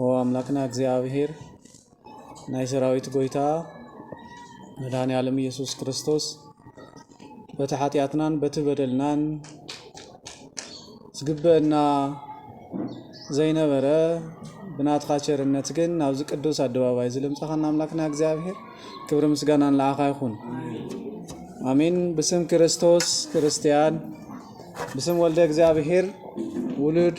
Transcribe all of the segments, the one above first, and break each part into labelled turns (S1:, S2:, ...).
S1: ኦ ኣምላክና እግዚኣብሔር ናይ ሰራዊት ጎይታ መድኃኔ ዓለም ኢየሱስ ክርስቶስ በቲ ሓጢኣትናን በቲ በደልናን ዝግበአና ዘይነበረ ብናትኻ ቸርነት ግን ናብዚ ቅዱስ ኣደባባይ እዚ ልምፃኻና ኣምላክና እግዚኣብሔር ክብሪ ምስጋና ንዓኻ ይኹን ኣሜን ብስም ክርስቶስ ክርስቲያን ብስም ወልደ እግዚኣብሔር ውሉድ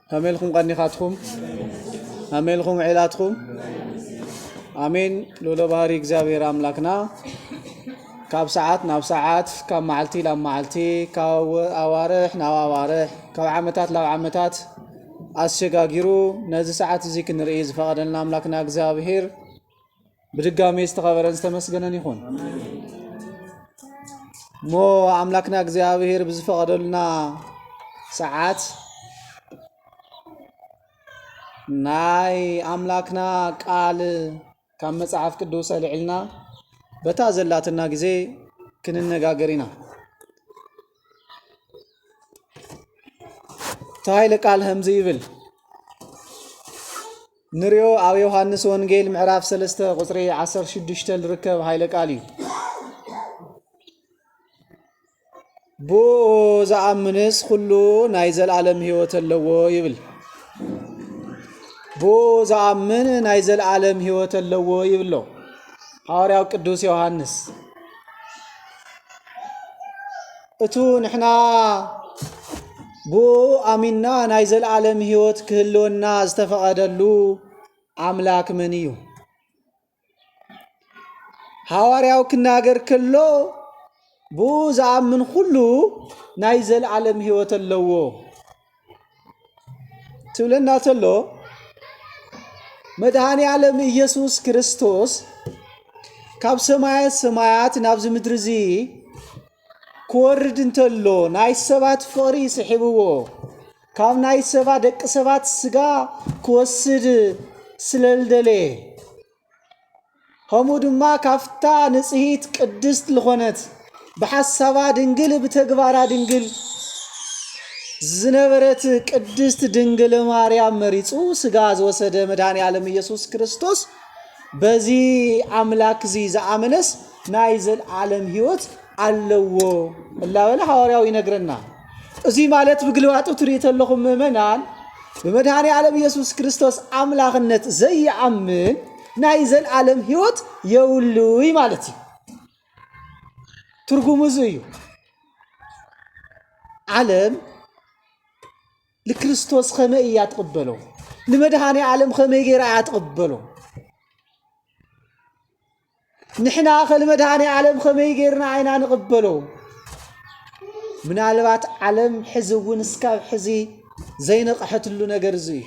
S1: ከመይ ኢልኩም ቀኒኻትኩም? ከመይ ኢልኩም ዒላትኩም? ኣሜን ልኡለ ባህሪ እግዚኣብሔር ኣምላክና ካብ ሰዓት ናብ ሰዓት ካብ መዓልቲ ናብ መዓልቲ ካብ ኣዋርሕ ናብ ኣዋርሕ ካብ ዓመታት ናብ ዓመታት ኣሰጋጊሩ ነዚ ሰዓት እዚ ክንርኢ ዝፈቐደልና ኣምላክና እግዚኣብሔር ብድጋሜ ዝተኸበረን ዝተመስገነን ይኹን እሞ ኣምላክና እግዚኣብሔር ብዝፈቐደልና ሰዓት ናይ ኣምላክና ቃል ካብ መጽሓፍ ቅዱስ ኣልዕልና በታ ዘላትና ግዜ ክንነጋገር ኢና እቲ ኃይለ ቃል ከምዚ ይብል ንሪኦ ኣብ ዮሃንስ ወንጌል ምዕራፍ ሰለስተ ቁፅሪ ዓሰርተ ሽዱሽተ ዝርከብ ሃይለ ቃል እዩ። ብኡ ዝኣምንስ ኩሉ ናይ ዘለዓለም ህይወት ኣለዎ ይብል። ብኡ ዝኣምን ናይ ዘለዓለም ህይወት ኣለዎ ይብሎ ሃዋርያው ቅዱስ ዮሃንስ። እቱ ንሕና ብእኡ ኣሚንና ናይ ዘለዓለም ህይወት ክህልወና ዝተፈቐደሉ ኣምላክ መን እዩ? ሃዋርያው ክናገር ከሎ ብኡ ዝኣምን ኩሉ ናይ ዘለዓለም ህይወት ኣለዎ። ትብለና ተሎ መድኃኔ ዓለም ኢየሱስ ክርስቶስ ካብ ሰማየ ሰማያት ናብዚ ምድሪ እዚ ክወርድ እንተሎ ናይ ሰባት ፍቕሪ ስሒብዎ ካብ ናይ ሰባ ደቂ ሰባት ስጋ ክወስድ ስለልደለየ ከምኡ ድማ ካብታ ንጽሂት ቅድስት ልኾነት ብሓሳባ ድንግል ብተግባራ ድንግል ዝነበረት ቅድስት ድንግል ማርያም መሪጹ ስጋ ዝወሰደ መድኃኔ ዓለም ኢየሱስ ክርስቶስ በዚ ኣምላክ እዚ ዝኣመነስ ናይ ዘልዓለም ሕይወት ኣለዎ እላበለ ሐዋርያው ይነግረና። እዙይ ማለት ብግልባጡ ትሪኡ ተለኹም ምእመናን ብመድኃኔ ዓለም ኢየሱስ ክርስቶስ ኣምላኽነት ዘይኣምን ናይ ዘልዓለም ሕይወት የውሉይ ማለት እዩ። ትርጉሙ እዙ እዩ። ዓለም ንክርስቶስ ከመይ እያ ትቕበሎ? ንመድኃኔ ዓለም ከመይ ገይራ እያ ትቕበሎ? ንሕናኸ ንመድኃኔ ዓለም ኸመይ ጌርና ኢና ንቕበሎ? ምናልባት ዓለም ሕዚ እውን እስካብ ሕዚ ዘይነቕሐትሉ ነገር እዚ እዩ።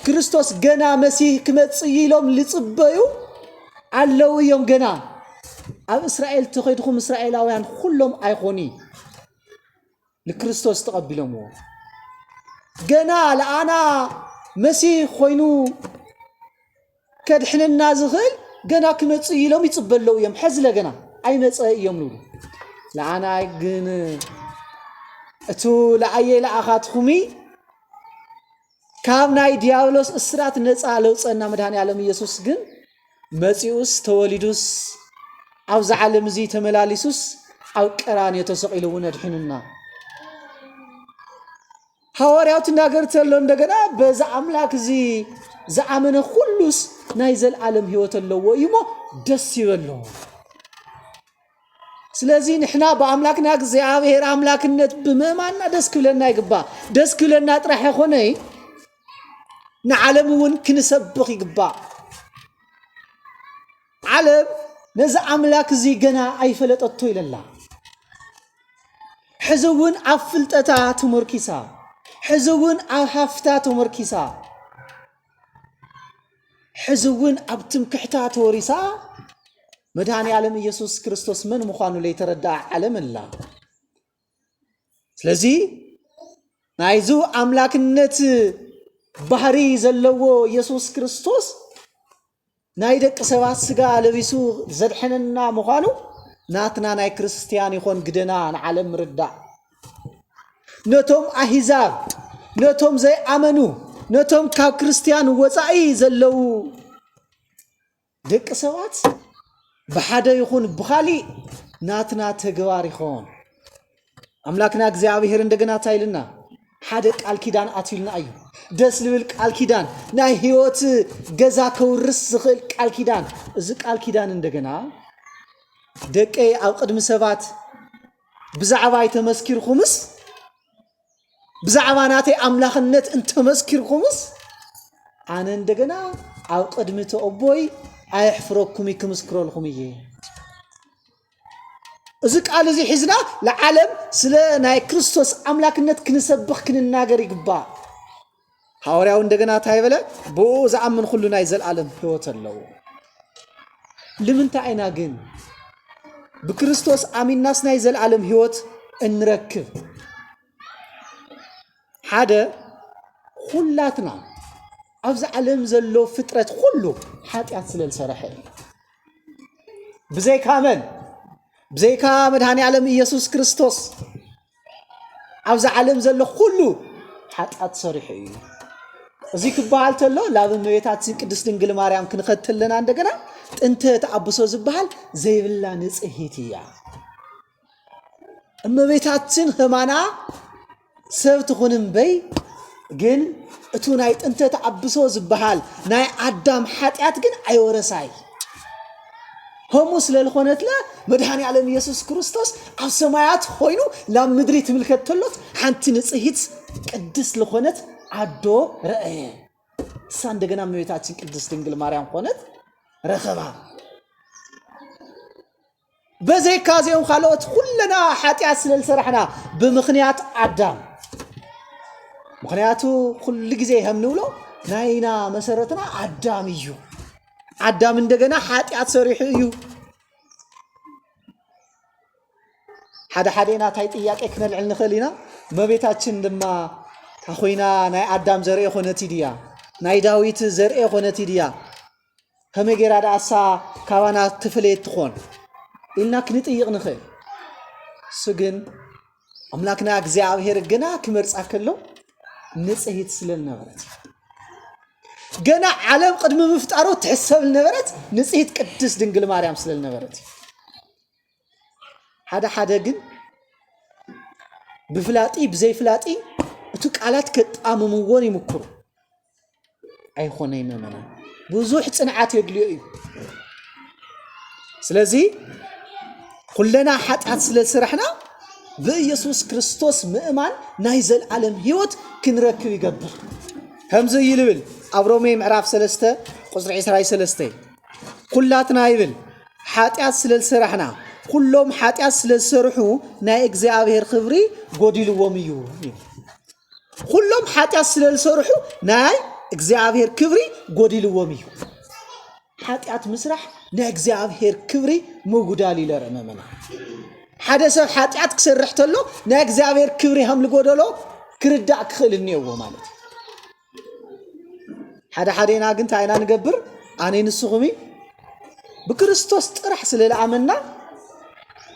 S1: ክርስቶስ ገና መሲህ ክመጽእ እዩ ኢሎም ልጽበዩ ኣለዉ እዮም ገና ኣብ እስራኤል ተኸድኹም እስራኤላውያን ኹሎም ኣይኾኑ ንክርስቶስ ተቐቢሎምዎ ገና ለኣና መሲህ ኮይኑ ከድሕነና ዝኽእል ገና ክመፅእ ኢሎም ይፅበለው እዮም ሐዝለ ገና ኣይመፀ እዮም ንብሉ ለኣና ግን እቱ ለኣየ ለኣኻትኹሚ ካብ ናይ ዲያብሎስ እስራት ነጻ ለውጸና መድኃኔዓለም ኢየሱስ ግን መጺኡስ ተወሊዱስ ኣብዚ ዓለም እዚ ተመላሊሱስ ኣብ ቀራንዮ ተሰቂሉ እውን ኣድሒኑና። ሃዋርያው ትናገር ተሎ እንደገና በዚ ኣምላክ እዚ ዝኣመነ ኩሉስ ናይ ዘልዓለም ሕይወት ኣለዎ እዩ እሞ ደስ ይበሎ። ስለዚ ንሕና ብኣምላክና እግዚኣብሔር ኣምላክነት ብምእማንና ደስ ክብለና ይግባእ ደስ ክብለና ጥራሕ ይኾነይ ንዓለም እውን ክንሰብኽ ይግባእ ዓለም ነዚ ኣምላክ እዚ ገና ኣይፈለጠቶ ኢለላ ሕዚ እውን ኣብ ፍልጠታ ተመርኪሳ ሕዚ እውን ኣብ ሃፍታ ተመርኪሳ ሕዚ እውን ኣብ ትምክሕታ ተወሪሳ መድኃኔዓለም ኢየሱስ ክርስቶስ መን ምዃኑ ለይተረድኣ ዓለም ኣላ። ስለዚ ናይዙ ኣምላክነት ባህሪ ዘለዎ ኢየሱስ ክርስቶስ ናይ ደቂ ሰባት ስጋ ለቢሱ ዘድሐነና ምዃኑ ናትና ናይ ክርስቲያን ይኾን ግደና ንዓለም ምርዳእ ነቶም ኣሂዛብ ነቶም ዘይኣመኑ ነቶም ካብ ክርስትያን ወፃኢ ዘለዉ ደቂ ሰባት ብሓደ ይኹን ብኻሊእ ናትና ተግባር ይኸውን ኣምላክና እግዚኣብሔር እንደገና እንታይ ኢልና ሓደ ቃል ኪዳን ኣትዩልና እዩ ደስ ዝብል ቃል ኪዳን ናይ ህይወት ገዛ ከውርስ ዝኽእል ቃል ኪዳን እዚ ቃል ኪዳን እንደገና ደቀይ ኣብ ቅድሚ ሰባት ብዛዕባ ኣይተመስኪርኩምስ ብዛዕባ ናተይ ኣምላኽነት እንተመስኪርኩምስ ኣነ እንደገና ኣብ ቅድሚ እቲ ኣቦይ ኣየሕፍረኩም እዩ ክምስክረልኩም እየ እዚ ቃል እዚ ሒዝና ንዓለም ስለ ናይ ክርስቶስ ኣምላክነት ክንሰብኽ ክንናገር ይግባእ ሃዋርያው እንደገና እንታይ በለ? ብኡ ዝኣምን ኩሉ ናይ ዘለኣለም ህይወት ኣለዎ። ልምንታይ ኢና ግን ብክርስቶስ ኣሚናስ ናይ ዘለኣለም ህይወት እንረክብ? ሓደ ኩላትና ኣብዚ ዓለም ዘሎ ፍጥረት ኩሉ ሓጢኣት ስለ ዝሰረሐ እዩ። ብዘይካ መን? ብዘይካ መድኃኔ ዓለም ኢየሱስ ክርስቶስ ኣብዚ ዓለም ዘሎ ኩሉ ሓጢኣት ሰሪሑ እዩ። እዚ ክበሃል ተሎ ናብ እመቤታችን ቅድስት ድንግል ማርያም ክንኸድ ተለና እንደገና ጥንተ ተኣብሶ ዝበሃል ዘይብላ ንጽሂት እያ። እመቤታችን ህማና ሰብ ትኹን እምበይ ግን እቱ ናይ ጥንተ ተኣብሶ ዝበሃል ናይ ኣዳም ሓጢኣት ግን ኣይወረሳይ ከምኡ ስለ ዝኾነትለ መድሃኒ ዓለም ኢየሱስ ክርስቶስ ኣብ ሰማያት ኾይኑ ናብ ምድሪ ትምልከት ተሎት ሓንቲ ንጽሂት ቅድስ ዝኾነት ዓዶ ረአየ እሳ እንደገና እመቤታችን ቅድስት ድንግል ማርያም ኾነት ረኸባ በዘይካ እዚኦም ካልኦት ኩለና ሓጢኣት ስለ ዝሰራሕና ብምኽንያት ኣዳም ምክንያቱ ኩሉ ግዜ ከም ንብሎ ናይና መሰረትና ኣዳም እዩ ኣዳም እንደገና ሓጢኣት ሰሪሑ እዩ። ሓደ ሓደ ናታይ ጥያቄ ክነልዕል ንኽእል ኢና። እመቤታችን ድማ ታኾይና ናይ ኣዳም ዘርኢ ኮነት ድያ ናይ ዳዊት ዘርኢ ኮነት ድያ ከመይ ጌራ ድኣሳ ካባና ትፍለየት ትኾን ኢልና ክንጥይቕ ንኽእል። እሱ ግን ኣምላክና እግዚኣብሔር ግና ክመርጻ ከሎ ንጽሂት ስለ ዝነበረት ገና ዓለም ቅድሚ ምፍጣሩ ትሕሰብ ዝነበረት ንጽሂት ቅድስት ድንግል ማርያም ስለ ዝነበረት ሓደ ሓደ ግን ብፍላጢ ብዘይፍላጢ እቲ ቃላት ከጣምምዎን ይምክሩ ኣይኾነይ መመና ብዙሕ ፅንዓት የድልዮ እዩ ስለዚ ኩለና ሓጢኣት ስለ ስራሕና ብኢየሱስ ክርስቶስ ምእማን ናይ ዘለዓለም ህይወት ክንረክብ ይገብር ከምዚ ይልብል ኣብ ሮሜ ምዕራፍ 3 ቁፅሪ 23 ኩላትና ይብል ሓጢኣት ስለ ዝሰራሕና ኩሎም ሓጢኣት ስለ ዝሰርሑ ናይ እግዚኣብሔር ክብሪ ጎዲልዎም እዩ ይብል ኹሎም ሓጢኣት ስለ ዝሰርሑ ናይ እግዚኣብሔር ክብሪ ጎዲልዎም እዩ ሓጢኣት ምስራሕ ናይ እግዚኣብሔር ክብሪ ምጉዳል እዩ ለረ መመና ሓደ ሰብ ሓጢኣት ክሰርሕ ተሎ ናይ እግዚኣብሔር ክብሪ ከም ዝጎደሎ ክርዳእ ክኽእል እኒኦዎ ማለት እዩ ሓደ ሓደና ግን እንታይ ኢና ንገብር ኣነ ንስኹም ብክርስቶስ ጥራሕ ስለ ዝኣመንና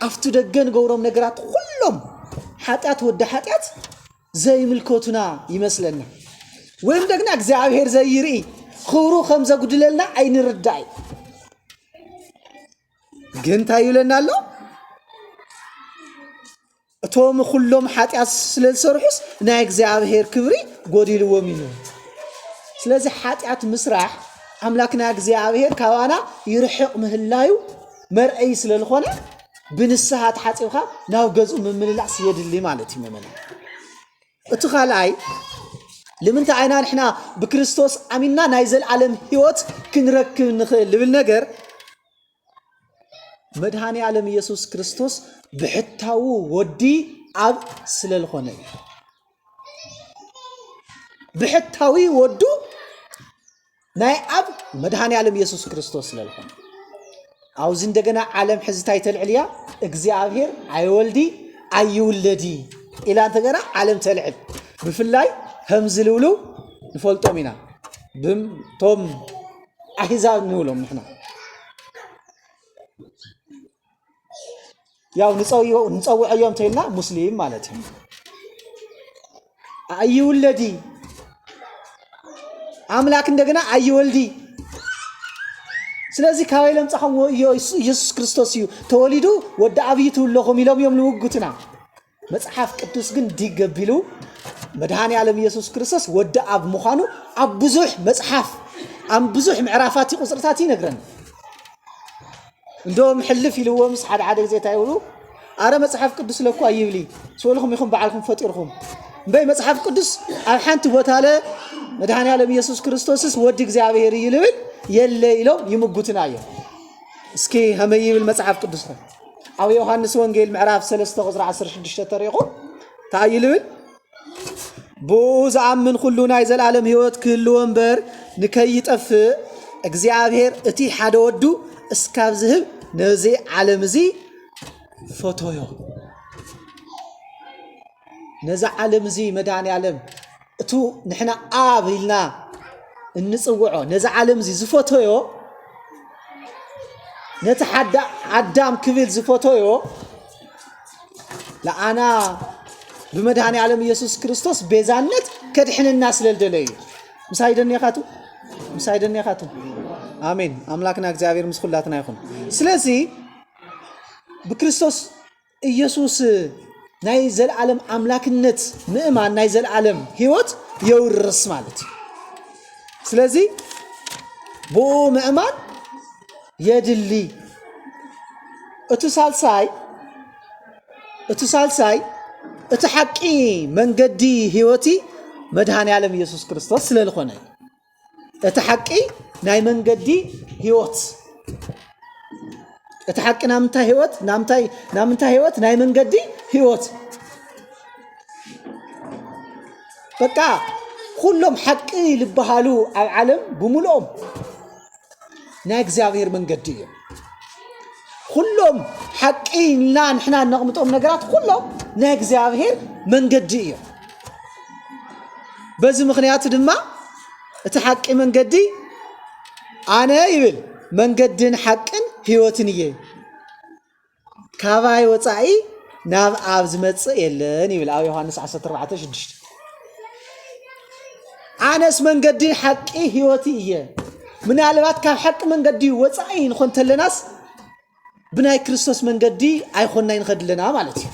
S1: ኣብቲ ደገ ንገብሮም ነገራት ኩሎም ሓጢኣት ወዲ ሓጢኣት ዘይምልከቱና ይመስለና ወይም ደግና እግዚኣብሔር ዘይርኢ ክብሩ ከም ዘጉድለልና ኣይንርዳእ እዩ ግን እንታይ ይብለና ኣሎ እቶም ዅሎም ሓጢኣት ስለ ዝሰርሑስ ናይ እግዚኣብሄር ክብሪ ጐዲልዎም እዩ። ስለዚ ሓጢኣት ምስራሕ ኣምላክና እግዚኣብሄር ካባና ይርሕቕ ምህላዩ መርኣዪ ስለ ልኾነ ብንስሃ ተሓጺብካ ናብ ገዝኡ ምምልላስ የድሊ ማለት እዩ ምእመናን። እቲ ካልኣይ ልምንታይ ኢና ንሕና ብክርስቶስ ኣሚንና ናይ ዘለኣለም ህይወት ክንረክብ ንኽእል ልብል ነገር መድኃኔ ዓለም ኢየሱስ ክርስቶስ ብሕታዉ ወዲ ኣብ ስለልኾነ እዩ። ብሕታዊ ወዱ ናይ ኣብ መድኃኔ ዓለም ኢየሱስ ክርስቶስ ስለልኾነ ኣብዚ እንደገና ዓለም ሕዚ እንታይ ተልዕል እያ? እግዚኣብሔር ኣይወልዲ ኣይውለዲ ኢላ እንተገና ዓለም ተልዕል። ብፍላይ ከም ዝልውልው ንፈልጦም ኢና። ብም- ቶም ኣህዛብ ንብሎም ንሕና ያው ንፀውዮ- ንፀውዐዮ እንተይልና ሙስሊም ማለት እዩ ኣይውለዲ ኣምላክ እንደገና ኣይወልዲ ስለዚ ካበይ ለምፃኹም ወዮ ኢየሱስ ክርስቶስ እዩ ተወሊዱ ወዲ ኣብዪ ትብለኹም ኢሎም እዮም ልውጉትና መጽሓፍ ቅዱስ ግን ዲግ ገቢሉ መድኃኔ ዓለም ኢየሱስ ክርስቶስ ወዲ ኣብ ምዃኑ ኣብ ብዙሕ መጽሓፍ ኣብ ብዙሕ ምዕራፋት ቁጽርታት ይነግረን እንደም ሕልፍ ኢልዎምስ ሓደ ሓደ ግዜ እንታይ ይብሉ ኣረ መጽሓፍ ቅዱስ ለኳ ይብሊ ስበልኹም ኢኹም በዓልኩም ፈጢርኹም እምበይ መጽሓፍ ቅዱስ ኣብ ሓንቲ ቦታ ለ መድኃኔ ዓለም ኢየሱስ ክርስቶስስ ወዲ እግዚኣብሔር እዩ ልብል የለ ኢሎም ይምጉትና እዮም እስኪ ከመይ ይብል መጽሓፍ ቅዱስኹም ኣብ ዮሃንስ ወንጌል ምዕራፍ 3 ቁፅሪ 16 ተሪኢኹም እንታይ እዩ ልብል ብኡ ዝኣምን ኩሉ ናይ ዘለዓለም ህይወት ክህልዎ እምበር ንከይጠፍእ እግዚኣብሔር እቲ ሓደ ወዱ እስካብ ዝህብ ነዚ ዓለም እዚ ፈቶዮ ነዚ ዓለም እዚ መድኃኔ ዓለም እቱ ንሕና ኣብ ኢልና እንፅውዖ ነዚ ዓለም እዚ ዝፈተዮ ነቲ ኣዳም ክብል ዝፈተዮ ለኣና ብመድሃኒ ዓለም ኢየሱስ ክርስቶስ ቤዛነት ከድሕነና ስለልደለ እዩ ምሳይ ደኔኻቱ ምሳይ ደኔኻቱ ኣሜን ኣምላክና እግዚኣብሔር ምስ ኩላትና ይኹን ስለዚ ብክርስቶስ ኢየሱስ ናይ ዘለዓለም ኣምላክነት ምእማን ናይ ዘለዓለም ህይወት የውርስ ማለት እዩ ስለዚ ብኡ ምእማን የድሊ እቲ ሳልሳይ እቲ ሳልሳይ እቲ ሓቂ መንገዲ ህይወቲ መድሃን ያለም ኢየሱስ ክርስቶስ ስለልኾነ እዩ እቲ ሓቂ ናይ መንገዲ ህይወት እቲ ሓቂ ናብ ምንታይ ህይወት ናብ ምንታይ ናብ ምንታይ ህይወት ናይ መንገዲ ህይወት በቃ ኩሎም ሓቂ ልበሃሉ ኣብ ዓለም ብምልኦም ናይ እግዚኣብሔር መንገዲ እዩ ኩሎም ሓቂ ኢልና ንሕና እነቕምጦም ነገራት ኩሎም ናይ እግዚኣብሔር መንገዲ እዩ በዚ ምክንያቱ ድማ እቲ ሓቂ መንገዲ ኣነ ይብል መንገድን ሓቅን ህይወትን እየ ካባይ ወፃኢ ናብ ኣብ ዝመፅእ የለን ይብል ኣብ ዮሃንስ 14 ሽዱሽተ ኣነስ መንገዲ ሓቂ ህይወት እየ ምናልባት ካብ ሓቂ መንገዲ ወፃኢ ንኾን ተለናስ ብናይ ክርስቶስ መንገዲ ኣይኮናይ ንኸድ ኣለና ማለት እዩ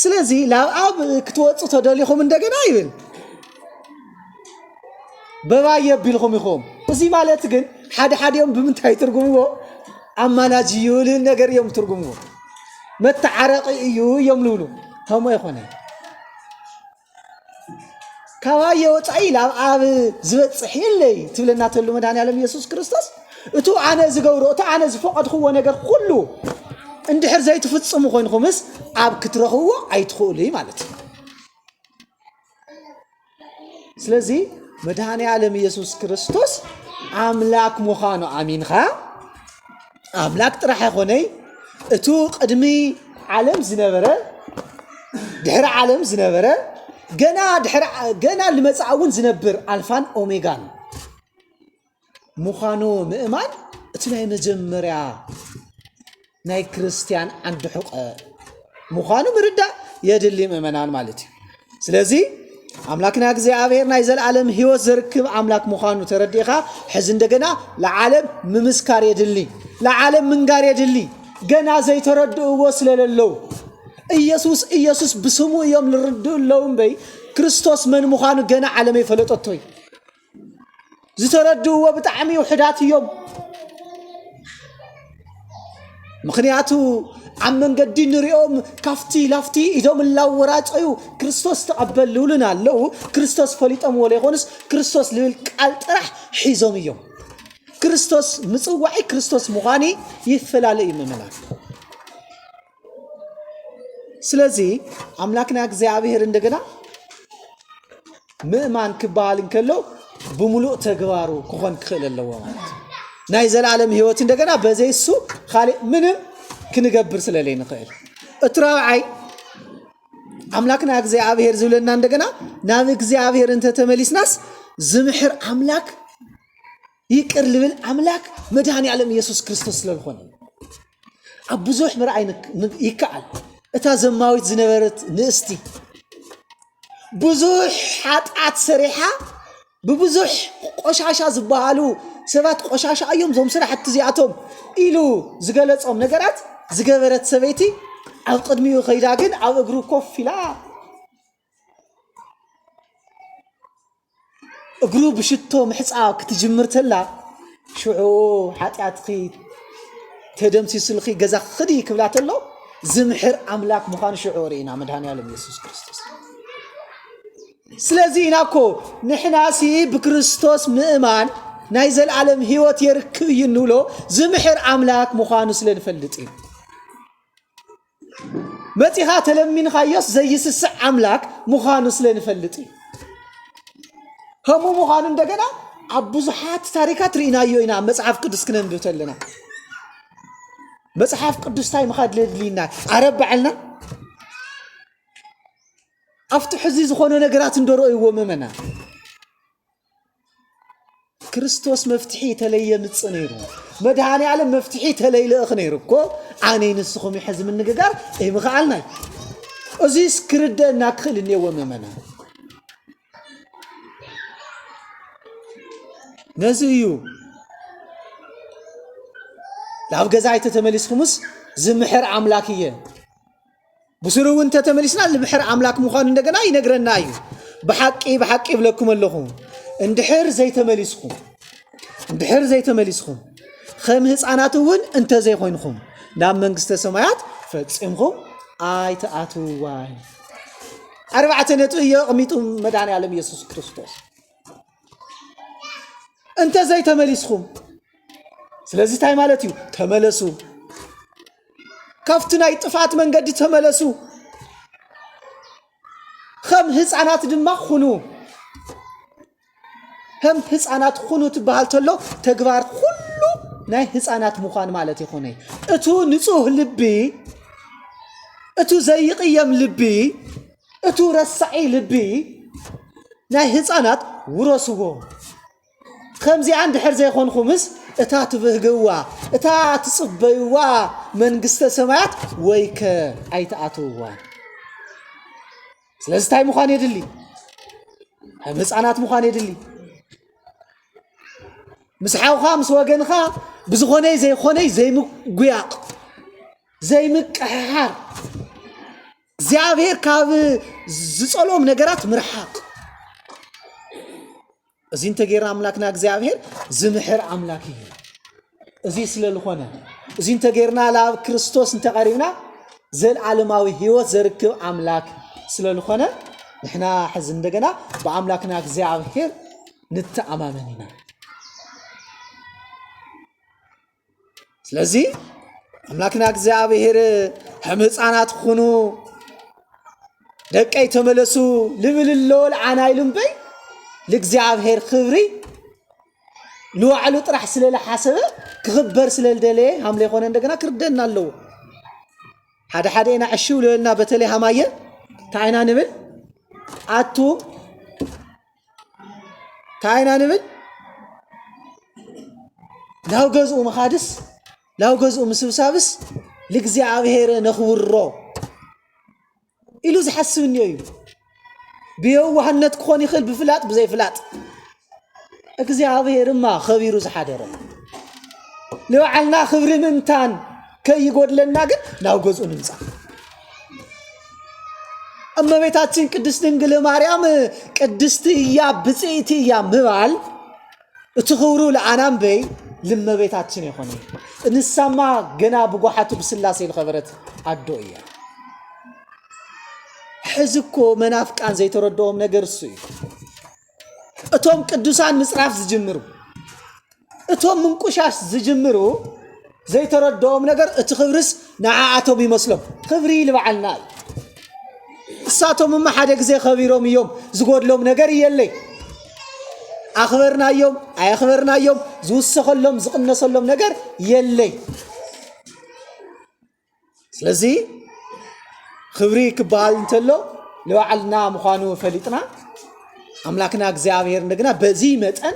S1: ስለዚ ናብ ኣብ ክትወፁ ተደሊኹም እንደገና ይብል በባይ የቢልኹም ኢኹም። እዚ ማለት ግን ሓደ ሓዲኦም ብምንታይ ትርጉምዎ ኣማላጅ እዩ ልል ነገር እዮም ትርጉምዎ መተዓረቂ እዩ እዮም ልብሉ ከምኡ ኣይኮነ ካባየ ወፃኢ ላብ ኣብ ዝበፅሕ የለይ ትብለና ተሉ መድሃን ያለም ኢየሱስ ክርስቶስ እቱ ኣነ ዝገብሮ እቱ ኣነ ዝፈቐድክዎ ነገር ኩሉ እንድሕር ዘይትፍፅሙ ኮይንኩምስ ኣብ ክትረኽብዎ ኣይትኽእሉ ማለት እዩ ስለዚ መድኃኔ ዓለም ኢየሱስ ክርስቶስ ኣምላክ ምዃኑ ኣሚንኻ ኣምላክ ጥራሕ ኣይኮነይ እቱ ቅድሚ ዓለም ዝነበረ ድሕሪ ዓለም ዝነበረ ገና ድሕሪ ገና ልመጻእ እውን ዝነብር ኣልፋን ኦሜጋን ምዃኑ ምእማን እቲ ናይ መጀመርያ ናይ ክርስትያን ዓንዲ ሕቀ ምዃኑ ምርዳእ የድሊ ምእመናን ማለት እዩ ስለዚ ኣምላክና እግዚኣብሔር ናይ ዘለዓለም ህይወት ዘርክብ ኣምላክ ምዃኑ ተረዲእኻ ሕዚ እንደገና ለዓለም ምምስካር የድሊ ለዓለም ምንጋር የድሊ ገና ዘይተረድእዎ ስለለለዉ ኢየሱስ ኢየሱስ ብስሙ እዮም ልርድኡ ኣለዉ እምበይ ክርስቶስ መን ምዃኑ ገና ዓለም ኣይፈለጠቶ እዩ ዝተረድእዎ ብጣዕሚ ውሕዳት እዮም። ምክንያቱ ኣብ መንገዲ ንሪኦም ካፍቲ ላፍቲ ኢዶም እናወራጨዩ ክርስቶስ ተቐበል ልብሉና ኣለዉ ክርስቶስ ፈሊጦምዎ ዘይኮኑስ ክርስቶስ ልብል ቃል ጥራሕ ሒዞም እዮም ክርስቶስ ምፅዋዒ ክርስቶስ ምዃኒ ይፈላለ እዩ ምምና ስለዚህ ኣምላክና እግዚኣብሔር እንደገና ምእማን ክበሃል እንከሎ ብምሉእ ተግባሩ ክኾን ክኽእል ኣለዎ ማለት እዩ። ናይ ዘላለም ህይወት እንደገና በዘይ እሱ ካልእ ምንም ክንገብር ስለለይ ንኽእል እቲ ራብዓይ ኣምላክና እግዚኣብሔር ዝብለና እንደገና ናብ እግዚኣብሔር እንተተመሊስናስ ዝምሕር ኣምላክ ይቅር ልብል ኣምላክ መድሃኒ ኣለም የሱስ ክርስቶስ ስለ ዝኾነ እዩ። ኣብ ብዙሕ ምርኣይ ንክ- ን- ይከኣል እታ ዘማዊት ዝነበረት ንእስቲ ብዙሕ ሓጥኣት ሰሪሓ ብብዙሕ ቆሻሻ ዝበሃሉ ሰባት ቆሻሻ እዮም እዞም ስራሕቲ እዚኣቶም ኢሉ ዝገለጾም ነገራት ዝገበረት ሰበይቲ ኣብ ቅድሚኡ ከይዳ ግን ኣብ እግሩ ኮፍ ኢላ እግሩ ብሽቶ ምሕፃብ ክትጅምር ተላ ሽዑ ሓጢኣትኺ ተደምሲሱልኺ ገዛ ክዲ ክብላ ተሎ ዝምሕር ኣምላክ ምዃኑ ሽዑ ርኢና መድሃኒኣለም የሱስ ክርስቶስ ስለዚ ኢና እኮ ንሕናሲ ብክርስቶስ ምእማን ናይ ዘለዓለም ህይወት የርክብ እዩ እንብሎ ዝምሕር ኣምላክ ምዃኑ ስለ ንፈልጥ እዩ መጺኻ ተለሚንኻዮስ ዘይስስዕ ኣምላክ ምዃኑ ስለ ንፈልጥ እዩ ከምኡ ምዃኑ እንደገና ኣብ ብዙሓት ታሪካት ርኢናዮ ኢና መጽሓፍ ቅዱስ ክነንብብ ተለና መጽሓፍ ቅዱስ እንታይ ምኻድ ለድልይና ዓረብ በዓልና ኣብቲ ሕዚ ዝኾነ ነገራት እንደረእይዎ መመና ክርስቶስ መፍትሒ ተለይ የምፅ ነይሩ መድሃኒ ዓለም መፍትሒ ተለይ ልእኽ ነይሩ እኮ ኣነ ንስኹም ሕዚ ምንግጋር ኣይምኸኣልናይ እዙስ ክርደእና ክኽእል እኔዎ መመና ነዚ እዩ ናብ ገዛ ኣይተተመሊስኩምስ ዝምሕር ኣምላክ እየ ብስሩ እውን እንተተመሊስና ንብሕር ኣምላክ ምዃኑ እንደገና ይነግረና እዩ ብሓቂ ብሓቂ ይብለኩም ኣለኹ እንድሕር ዘይተመሊስኹም እንድሕር ዘይተመሊስኹም ከም ህፃናት እውን እንተዘይኮይንኹም ናብ መንግስተ ሰማያት ፈፂምኹም ኣይትኣትዋን ኣርባዕተ ነጥቢ እዮ ኣቕሚጡ መድኃኔ ዓለም ኢየሱስ ክርስቶስ እንተ ዘይተመሊስኹም ስለዚ እንታይ ማለት እዩ ተመለሱ ካብቲ ናይ ጥፍኣት መንገዲ ተመለሱ ከም ህፃናት ድማ ኩኑ ከም ህፃናት ኩኑ ትበሃል ተሎ ተግባር ኩሉ ናይ ህፃናት ምዃን ማለት ይኾነ እቱ ንፁህ ልቢ እቱ ዘይቕየም ልቢ እቱ ረሳዒ ልቢ ናይ ህፃናት ውረስዎ ከምዚኣ እንድሕር ዘይኮንኹምስ እታ ትብህግዋ እታ ትፅበይዋ መንግስተ ሰማያት ወይከ ኣይትኣትውዋ ስለዚ እንታይ ምዃን የድሊ ከም ህፃናት ምዃን የድሊ ምስ ሓውኻ ምስ ወገንኻ ብዝኾነይ ዘይኾነይ ዘይምጉያቕ ዘይምቅሕሓር እግዚኣብሔር ካብ ዝጸልኦም ነገራት ምርሓቕ እዚ እንተገይርና ኣምላክና እግዚኣብሔር ዝምሕር ኣምላክ እዩ እዚ ስለ ዝኾነ እዚ እንተገይርና ናብ ክርስቶስ እንተቐሪብና ዘለዓለማዊ ህይወት ዘርክብ ኣምላክ ስለ ዝኾነ ንሕና ሕዚ እንደገና ብኣምላክና እግዚኣብሔር ንተኣማመን ኢና ስለዚ ኣምላክና እግዚኣብሔር ከም ህፃናት ኩኑ ደቀይ ተመለሱ ልብል ኣለወል ዓና ኢሉ እምበይ ልእግዚኣብሔር ክብሪ ንዋዕሉ ጥራሕ ስለዝሓሰበ ክኽበር ስለዝደለየ ሃምለ ኮነ እንደገና ክርደና ኣለዎ ሓደ ሓደ ኢና ዕሽ ብለበልና በተለይ ሃማየ እንታይ ኢና ንብል ኣቱም እንታይ ኢና ንብል ናብ ገዝኡ ምኻድስ ናብ ገዝኡ ምስብሳብስ ልእግዚኣብሔር ነኽብሮ ኢሉ ዝሓስብ እኒኦ እዩ ብየዋህነት ክኾን ይኽእል ብፍላጥ ብዘይፍላጥ እግዚኣብሔርማ ኸቢሩ ዝሓደረ ንባዕልና ክብሪ ምእንታን ከይጎድለና ግን ናብ ገዝኡ ንምፃእ እመቤታችን ቅድስት ድንግል ማርያም ቅድስቲ እያ ብፅእቲ እያ ምባል እቲ ክብሩ ለኣናንበይ ልመቤታችን የኾነ እንሳማ ገና ብጓሓቱ ብስላሴ ዝኸበረት ኣዶ እያ ሕዚ እኮ መናፍቃን ዘይተረድኦም ነገር እሱ እዩ እቶም ቅዱሳን ምጽራፍ ዝጅምሩ እቶም ምንቁሻሽ ዝጅምሩ ዘይተረድኦም ነገር እቲ ክብርስ ንዓኣቶም ይመስሎም ክብሪ ልበዓልና እዩ እሳቶም እማ ሓደ ግዜ ከቢሮም እዮም ዝጎድሎም ነገር እየለይ ኣኽበርናዮም ኣየኽበርናዮም ዝውሰኸሎም ዝቕነሰሎም ነገር የለይ ስለዚ ክብሪ ክበሃል እንተሎ ንባዕልና ምዃኑ ፈሊጥና ኣምላክና እግዚኣብሔር እንደገና በዚ መጠን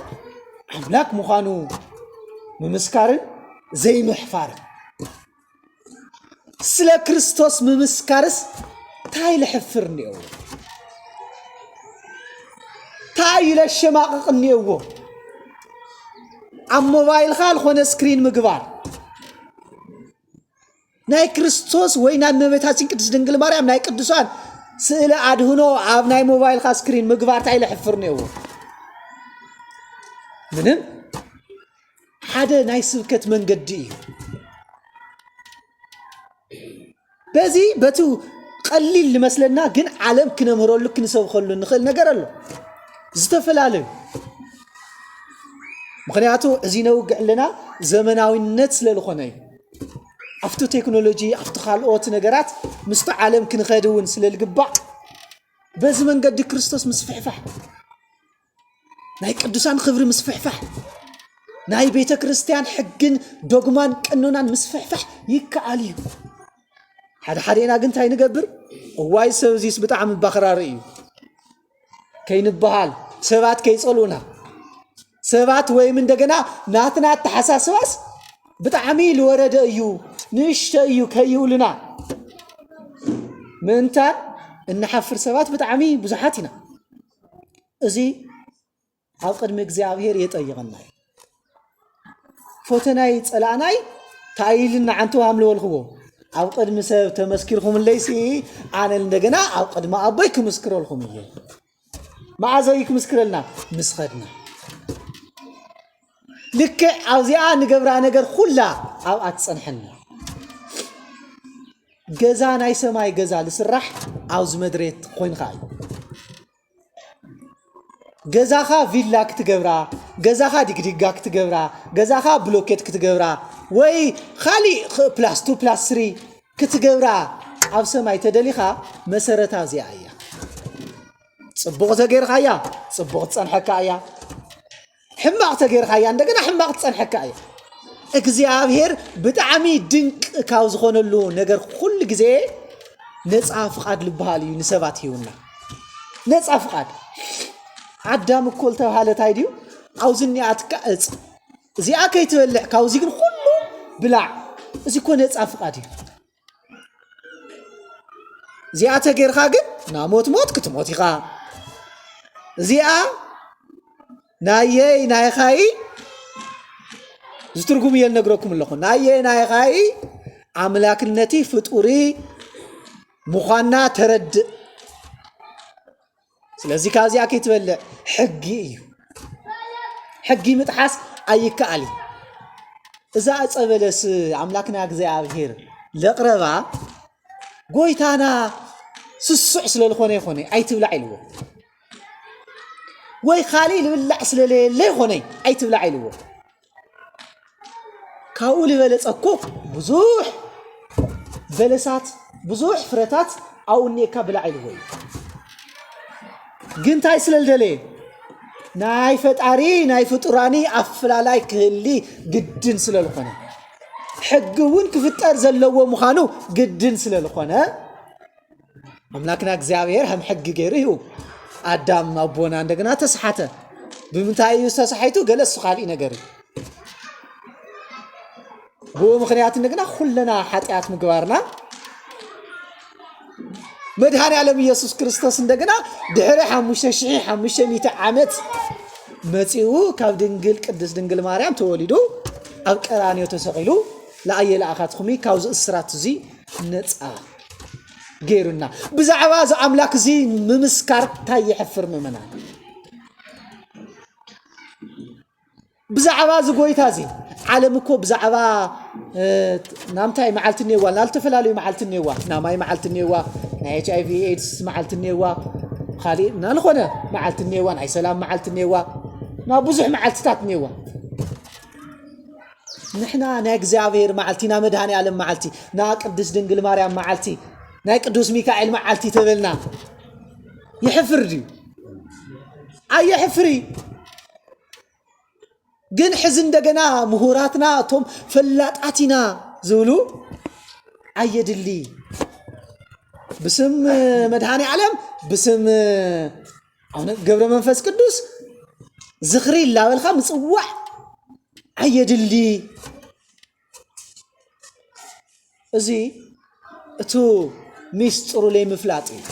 S1: ኣምላክ ምዃኑ ምምስካርን ዘይምሕፋርን ስለ ክርስቶስ ምምስካርስ እንታይ ልሕፍር እኒአዎ እንታይ ለሸማቕቕ እኒአዎ ኣብ ሞባይልካ ዝኾነ ስክሪን ምግባር ናይ ክርስቶስ ወይ ናይ እመቤታችን ቅድስት ድንግል ማርያም ናይ ቅዱሳን ስእለ ኣድህኖ ኣብ ናይ ሞባይልካ ስክሪን ምግባር እንታይ ለሕፍር ነይዎ ምንም ሓደ ናይ ስብከት መንገዲ እዩ በዚ በቲ ቀሊል ንመስለና ግን ዓለም ክነምህረሉ ክንሰብከሉ ንኽእል ነገር ኣሎ ዝተፈላለዩ ምክንያቱ እዚ ነውግዕ ኣለና ዘመናዊነት ስለ ዝኾነ እዩ ኣብቲ ቴክኖሎጂ ኣብቲ ካልኦት ነገራት ምስቲ ዓለም ክንኸድ እውን ስለ ዝግባእ በዚ መንገዲ ክርስቶስ ምስፍሕፋሕ ናይ ቅዱሳን ክብሪ ምስፍሕፋሕ ናይ ቤተ ክርስቲያን ሕግን ዶግማን ቀኖናን ምስፍሕፋሕ ይከኣል እዩ ሓደ ሓደና ግን እንታይ ንገብር እዋይ ሰብ እዚስ ብጣዕሚ ባክራሪ እዩ ከይንበሃል ሰባት ከይጸልኡና ሰባት ወይም እንደገና ናትና ኣተሓሳስባስ ብጣዕሚ ልወረደ እዩ ንእሽተ እዩ ከይብሉና ምእንታን እንሓፍር ሰባት ብጣዕሚ ብዙሓት ኢና እዚ ኣብ ቅድሚ እግዚኣብሔር የጠይቐና እዩ ፈተናይ ፀላእናይ እንታይ ኢልና ዓንተ ኣምለወልክዎ ኣብ ቅድሚ ሰብ ተመስኪርኩምለይሲ ኣነ እንደገና ኣብ ቅድሚ ኣቦይ ክምስክረልኩም እየ መዓዘ እዩ ክምስክረልና ምስ ኸድና ልክዕ ኣብዚኣ ንገብራ ነገር ኩላ ኣብኣ ትፀንሐና ገዛ ናይ ሰማይ ገዛ ዝስራሕ ኣብዚ መድሬት ኮይንካ እዩ ገዛኻ ቪላ ክትገብራ ገዛኻ ዲግዲጋ ክትገብራ ገዛኻ ብሎኬት ክትገብራ ወይ ካሊእ ኽ- ፕላስ ቱ ፕላስ ስሪ ክትገብራ ኣብ ሰማይ ተደሊኻ መሰረታ እዚኣ እያ ፅቡቕ ዘገይርካ እያ ፅቡቕ ትፀንሐካ እያ ሕማቅ ተገይርካያ እንደገና ሕማቅ ትጸንሐካ እያ እግዚኣብሔር ብጣዕሚ ድንቅ ካብ ዝኾነሉ ነገር ኩሉ ግዜ ነፃ ፍቃድ ልበሃል እዩ ንሰባት ሂውና ነፃ ፍቃድ ኣዳም እኮ ዝተባሃለ እንታይ ድዩ ኣብዚ እኒኣትካ እፅ እዚኣ ከይትበልዕ ካብዚ ግን ኩሉ ብላዕ እዚ እኮ ነፃ ፍቃድ እዩ እዚኣ ተገይርካ ግን ናብ ሞት ሞት ክትሞት ኢኻ እዚኣ ናየይ ናይኻይ ዝትርጉም እየ ነግረኩም ኣለኹ ናየይ ናይኻይ ኣምላክነቲ ፍጡሪ ምዃና ተረድእ ስለዚ ካብዚኣ ከይትበልዕ ሕጊ እዩ ሕጊ ምጥሓስ ኣይከኣል እዩ እዛ ዕፀ በለስ ኣምላክና እግዚኣብሔር ለቕረባ ጎይታና ስሱዕ ስለ ዝኾነ ይኾነ ኣይትብላዕ ኢልዎ ወይ ካልእ ልብላዕ ስለለየለ ይኾነ ኣይትብላዕ ኢልዎ ካብኡ ዝበለጸ እኮ ብዙሕ በለሳት ብዙሕ ፍረታት ኣብኡ እኒኤካ ብላዕ ኢልዎ እዩ ግን እንታይ ስለ ዝደለየ ናይ ፈጣሪ ናይ ፍጡራኒ ኣፈላላይ ክህሊ ግድን ስለ ዝኾነ ሕጊ እውን ክፍጠር ዘለዎ ምዃኑ ግድን ስለ ዝኾነ ኣምላክና እግዚኣብሔር ከም ሕጊ ገይሩ ይህቡ ኣዳም ኣቦና እንደገና ተስሓተ ብምንታይ እዩ ዝተሳሒቱ ገለ እሱ ካልእ ነገር እዩ ብኡ ምክንያት እንደገና ኩለና ሓጢኣት ምግባርና መድኃኔ ዓለም ኢየሱስ ክርስቶስ እንደገና ድሕሪ ሓሙሽተ ሽሕ ሓሙሽተ ሚእቲ ዓመት መፂኡ ካብ ድንግል ቅድስት ድንግል ማርያም ተወሊዱ ኣብ ቀራንዮ ተሰቂሉ ለኣየ ለኣኻትኹሚ ካብዚ እስራት እዚ ነፃ ገይሩና ብዛዕባ እዚ ኣምላክ እዚ ምምስካር እንታይ የሕፍር ምእመናን ብዛዕባ እዚ ጎይታ እዚ ዓለም እኮ ብዛዕባ እ፣ ናምታይ መዓልቲ እኔዋ ናብ ዝተፈላለዩ መዓልቲ እኔዋ ናይ ማይ መዓልቲ እኔዋ ናይ ኤች ኣይቪ ኤድስ መዓልቲ እኔዋ ካሊእ እና ንኾነ መዓልቲ እኔዋ ናይ ሰላም መዓልቲ እኔዋ ናብ ብዙሕ መዓልትታት እኔዋ
S2: ንሕና ናይ እግዚኣብሔር መዓልቲ ናይ መድኃኔዓለም መዓልቲ ናይ ቅድስት ድንግል ማርያም መዓልቲ ናይ ቅዱስ ሚካኤል መዓልቲ ተበልና ይሕፍር ድዩ ኣየሕፍር ግን ሕዚ እንደገና ምሁራትና እቶም ፈላጣት ኢና ዝብሉ ኣየድሊ ብስም መድኃኔ ዓለም ብስም ኣነ ገብረ መንፈስ ቅዱስ ዝኽሪ ላበልካ ምጽዋዕ ኣየድሊ እዚ እቱ ሚስጥሩ ለይምፍላጥ እዩ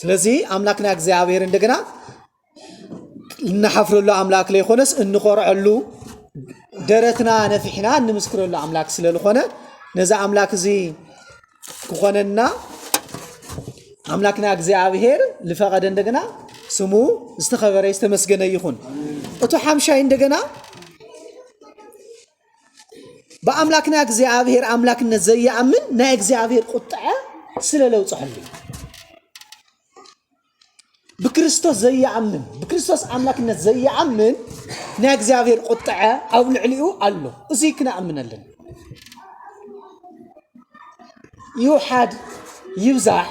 S2: ስለዚህ አምላክና እግዚአብሔር እንደገና እነሓፍረሉ ኣምላክ ለይኮነስ እንኾርዐሉ ደረትና ነፊሕና እንምስክረሉ ኣምላክ ስለዝኾነ ነዚ ኣምላክ እዚ ክኾነና ኣምላክና እግዚኣብሄር ዝፈቐደ እንደገና ስሙ ዝተኸበረ ዝተመስገነ ይኹን እቱ ሓምሻይ እንደገና ብኣምላክና እግዚኣብሄር ኣምላክነት ዘይኣምን ናይ እግዚኣብሄር ቁጥዐ ስለለውፅሐሉ እዩ ብክርስቶስ ዘይኣምን ብክርስቶስ ኣምላክነት ዘይኣምን ናይ እግዚኣብሔር ቁጥዐ ኣብ ልዕሊኡ ኣሎ እዚ ክነኣምን ኣለና ይውሓድ ይብዛሕ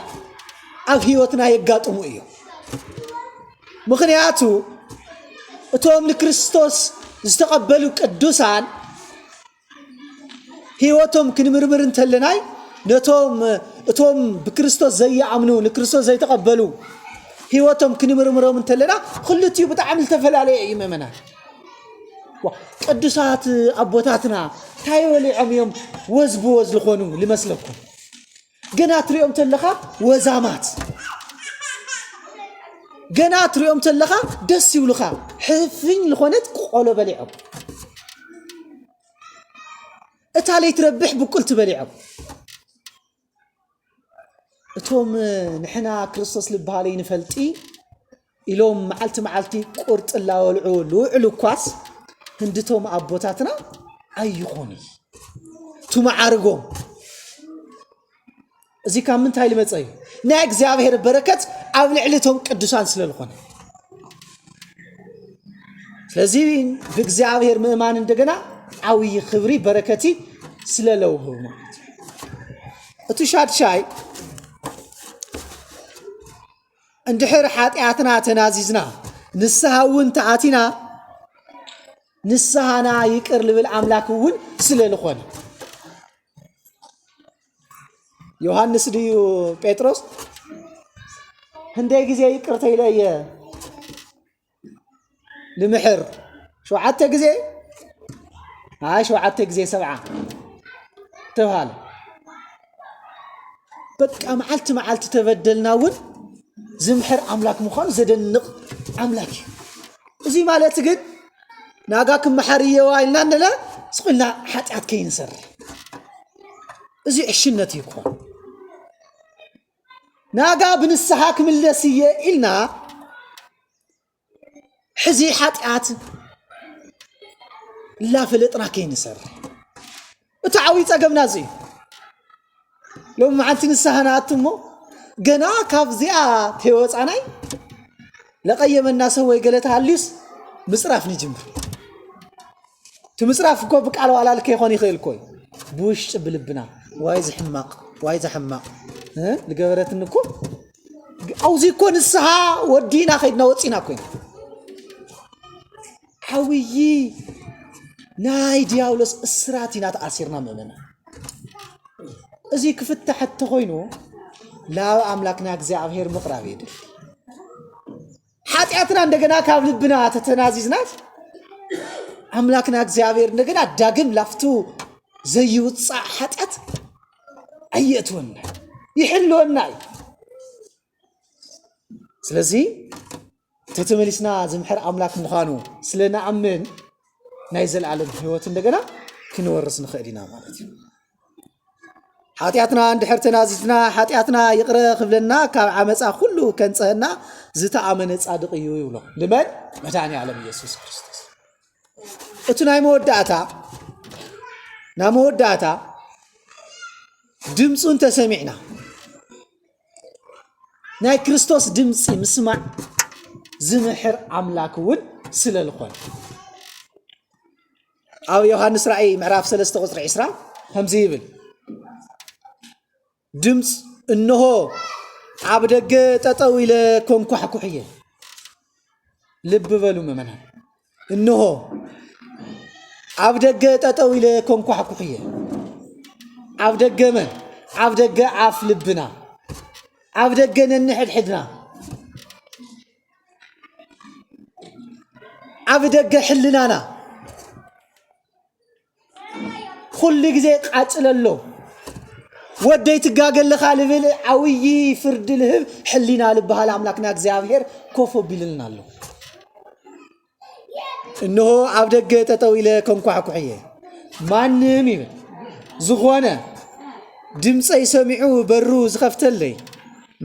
S2: ኣብ ህይወትና የጋጥሙ እዮም ምክንያቱ እቶም ንክርስቶስ ዝተቐበሉ ቅዱሳን ህይወቶም ክንምርምር እንተለናይ ነቶም እቶም ብክርስቶስ ዘይኣምኑ ንክርስቶስ ዘይተቐበሉ ህይወቶም ክንምርምሮም እንተለና ክልቲኡ ብጣዕሚ ዝተፈላለየ እዩ ምእመናን ቅዱሳት ኣቦታትና እንታይ በሊዖም እዮም ወዝ ብወዝ ዝኾኑ ልመስለኩም ገና ትሪኦም ተለኻ ወዛማት ገና ትሪኦም ተለኻ ደስ ይብሉኻ ሕፍኝ ዝኾነት ቆሎ በሊዖም እታ ለይትረብሕ ብቁልቲ በሊዖም እቶም ንሕና ክርስቶስ ልበሃለይ ንፈልጢ ኢሎም መዓልቲ መዓልቲ ቁርጢ ላወልዑ ልውዕሉ እኳስ ህንድቶም ኣቦታትና ኣይኾኑ ቱመዓርጎም እዚ ካብ ምንታይ ልመፀ እዩ ናይ እግዚኣብሔር በረከት ኣብ ልዕሊ እቶም ቅዱሳን ስለ ዝኾነ ስለዚ ብእግዚኣብሔር ምእማን እንደገና ዓብዪ ክብሪ በረከቲ ስለ ለውህብ ማለት እዩ እቲ ሻድሻይ እንድሕር ሓጢኣትና ተናዚዝና ንስሃ እውን ተኣቲና ንስሃና ይቅር ልብል ኣምላክ እውን ስለ ዝኾነ ዮሃንስ ድዩ ጴጥሮስ ህንደይ ግዜ ይቅርተ ኢለ እየ ንምሕር ሸውዓተ ግዜ ኣይ ሸውዓተ ግዜ ሰብዓ ተብሃለ በቃ መዓልቲ መዓልቲ ተበደልና እውን ዝምሕር ኣምላክ ምዃኑ ዘደንቕ ኣምላክ እዩ እዚ ማለት ግን ናጋ ክመሓር እየዋ ኢልና ንለ ስቑልና ሓጢኣት ከይንሰርሕ እዚ ዕሽነት እዩ ክኾን ናጋ ብንስሓ ክምለስ እየ ኢልና ሕዚ ሓጢኣት ላፈለጥና ከይንሰርሕ እቲ ዓብዪ ፀገምና እዚ እዩ ሎሚ መዓልቲ ንስሓ ንኣቱ እሞ ገና ካብዚኣ ተወፃናይ ለቀየመና ሰው ወይ ገለ ተሃልዩስ ምፅራፍ ንጅምር እቲ ምፅራፍ እኮ ብቃል ዋላል ከይኮን ይኽእል እኮ እዩ ብውሽጢ ብልብና ዋይ ዝሕማቕ ዋይ ዝሕማቕ እ? ዝገበረትኒ እኮ ኣብዚ እኮ ንስሓ ወዲእና ከይድና ወፂና እኮ ኢና ዓውዪ ናይ ዲያብሎስ እስራት ኢና ተኣሲርና ምእመናን። እዚ ክፍታሕ እተኾይኑ ናብ ኣምላክና እግዚኣብሔር ምቕራብ የድል። ሓጢኣትና እንደገና ካብ ልብና ተተናዚዝናት ኣምላክና እግዚኣብሔር እንደገና ዳግም ላፍቱ ዘይውፃእ ሓጢኣት ኣየእትወና ይሕልወና እዩ። ስለዚ ተተመሊስና ዝምሕር ኣምላክ ምዃኑ ስለ ንኣምን ናይ ዘለኣለም ህይወት እንደገና ክንወርስ ንኽእል ኢና ማለት እዩ ሓጢኣትና እንድሕር ተናዚዝና ሓጢኣትና ይቕረ ክብለና ካብ ዓመፃ ኩሉ ከንፀህና ዝተኣመነ ፃድቕ እዩ ይብሎ ንመን መድኒ ዓለም ኢየሱስ ክርስቶስ እቲ ናይ መወዳእታ ናይ መወዳእታ ድምፁ እንተሰሚዕና ናይ ክርስቶስ ድምፂ ምስማዕ ዝምሕር ኣምላክ እውን ስለ ዝኾነ ኣብ ዮሃንስ ራእይ ምዕራፍ 3 ቁፅሪ 20 ከምዚ ይብል ድምፅ እነሆ ኣብ ደገ ጠጠው ኢለ ኮንኳሕኩሕ እየ ልቢ በሉ ምእመናን እንሆ፣ ኣብ ደገ ጠጠው ኢለ ኮንኳሕኩሕ እየ። ኣብ ደገ መን? ኣብ ደገ ኣፍ ልብና፣ ኣብ ደገ ነንሕድሕድና፣ ኣብ ደገ ሕልናና ኩሉ ግዜ ቃጽለሎ ወደይ ትጋገለኻ ልብል ዓብዪ ፍርዲ ልህብ ሕሊና ልበሃል ኣምላክና እግዚኣብሔር ኮፍ ኣቢሉልና ኣሎ እነሆ ኣብ ደገ ጠጠው ኢለ ከንኳሕኩሕ እየ ማንም ይብል ዝኾነ ድምፀይ ሰሚዑ በሩ ዝኸፍተለይ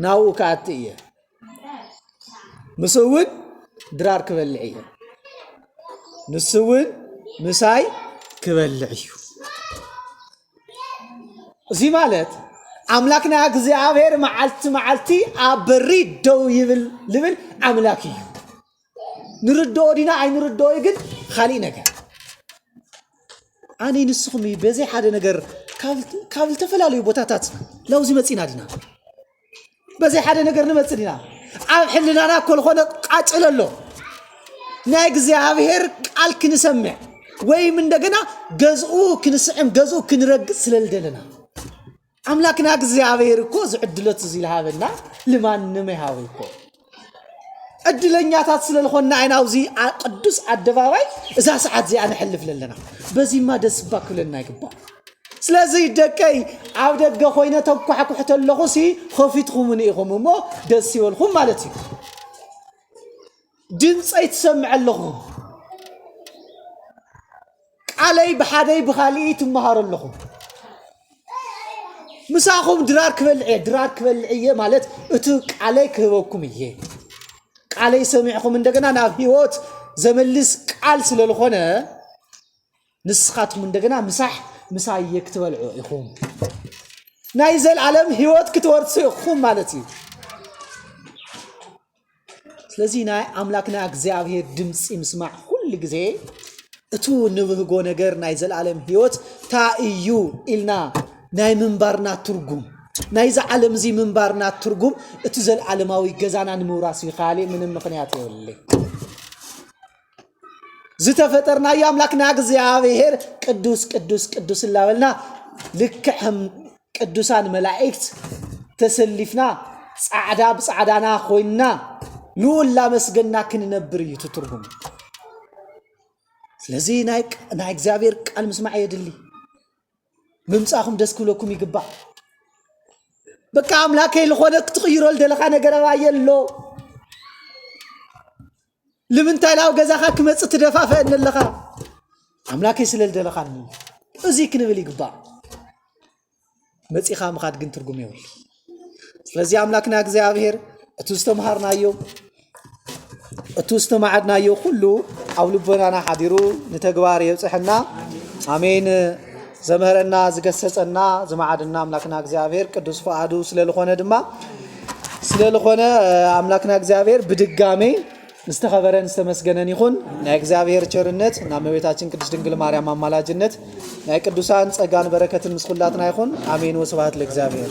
S2: ናብኡ ክኣቲ እየ ምስ እውን ድራር ክበልዕ እየ ንሱ እውን ምሳይ ክበልዕ እዩ እዚ ማለት ኣምላክና እግዚኣብሔር መዓልቲ መዓልቲ ኣብ በሪ ደው ይብል ልብል ኣምላክ እዩ ንርድኦ ዲና ኣይንርድኦይ ግን ካሊእ ነገር ኣነይ ንስኹም እዩ በዘይ ሓደ ነገር ካብ ዝተፈላለዩ ቦታታት ላውዚ መፂና ዲና በዘይ ሓደ ነገር ንመፅ ዲና ኣብ ሕልናና ኮልኾነ ቃጭል ኣሎ ናይ እግዚኣብሔር ቃል ክንሰምዕ ወይም እንደገና ገዝኡ ክንስዕም ገዝኡ ክንረግፅ ስለልደለና ኣምላክና እግዚኣብሔር እኮ እዚ ዕድሎት እዚ ዝሃበና ልማንም ይሃቡ እኮ ዕድለኛታት ስለ ዝኾና ኢና ኣብዚ ኣ- ቅዱስ ኣደባባይ እዛ ሰዓት እዚኣ ነሕልፍ ዘለና በዚማ ደስ እባ ክብለና ይግባእ ስለዚ ደቀይ ኣብ ደገ ኮይነ ተኳሕኩሕ ተለኹ ሲ ኸፊትኹምኒ ኢኹም እሞ ደስ ይበልኹም ማለት እዩ ድምፀይ ትሰምዕ ኣለኹ ቃለይ ብሓደይ ብኻልእይ ትመሃሩ ኣለኹ ምሳኹም ድራር ክበልዕ እየ ድራር ክበልዕ እየ ማለት እቲ ቃለይ ክህበኩም እየ ቃለይ ሰሚዕኹም እንደገና ናብ ህይወት ዘመልስ ቃል ስለ ዝኾነ ንስኻትኩም እንደገና ምሳሕ ምሳየ ክትበልዑ ኢኹም ናይ ዘልዓለም ህይወት ክትወርሱ ኢኹም ማለት እዩ ስለዚ ናይ ኣምላክና እግዚኣብሄር ድምጺ ምስማዕ ኩሉ ግዜ እቱ ንብህጎ ነገር ናይ ዘለኣለም ህይወት ታይ እዩ ኢልና ናይ ምንባርና ትርጉም ናይዚ ዓለም እዚ ምንባርና ትርጉም እቲ ዘለኣለማዊ ገዛና ንምውራስ ይካል ምንም ምክንያት የብለይ ዝተፈጠርናዮ ኣምላክና እግዚኣብሔር ቅዱስ ቅዱስ ቅዱስ እናበልና ልክዕ ቅዱሳን መላእክት ተሰሊፍና ፃዕዳ ብፃዕዳና ኮይንና ልኡል ላመስገና ክንነብር እዩ ትትርጉም ስለዚ ናይ እግዚኣብሔር ቃል ምስማዕ የድሊ ምምፃኹም ደስ ክብለኩም ይግባእ በቃ ኣምላከይ ዝኾነ ክትቕይሮ ደለኻ ነገር ኣባየ ኣሎ ልምንታይ ናብ ገዛኻ ክመጽእ ትደፋፈአኒ ኣለኻ? ኣምላከይ ስለ ዝደለኻኒ እዚ ክንብል ይግባእ። መጺኻ ምኻድ ግን ትርጉም የብሉ። ስለዚ ኣምላክና እግዚኣብሔር እቲ ዝተምሃርናዮ እቲ ዝተማዕድናዮ ኩሉ ኣብ ልቦናና ሓዲሩ ንተግባር የብፅሐና። ኣሜን። ዘምህረና ዝገሰጸና ዝማዕድና ኣምላክና እግዚኣብሔር ቅዱስ ፍቃዱ ስለ ዝኾነ ድማ ስለልኾነ ኣምላክና እግዚኣብሔር ብድጋሜ ዝተኸበረን ዝተመስገነን ይኹን ናይ እግዚኣብሔር ቸርነት ናብ መቤታችን ቅድስት ድንግል ማርያም ኣማላጅነት ናይ ቅዱሳን ጸጋን በረከትን ምስ ኩላትና ይኹን ኣሜን ወስብሐት ለእግዚኣብሔር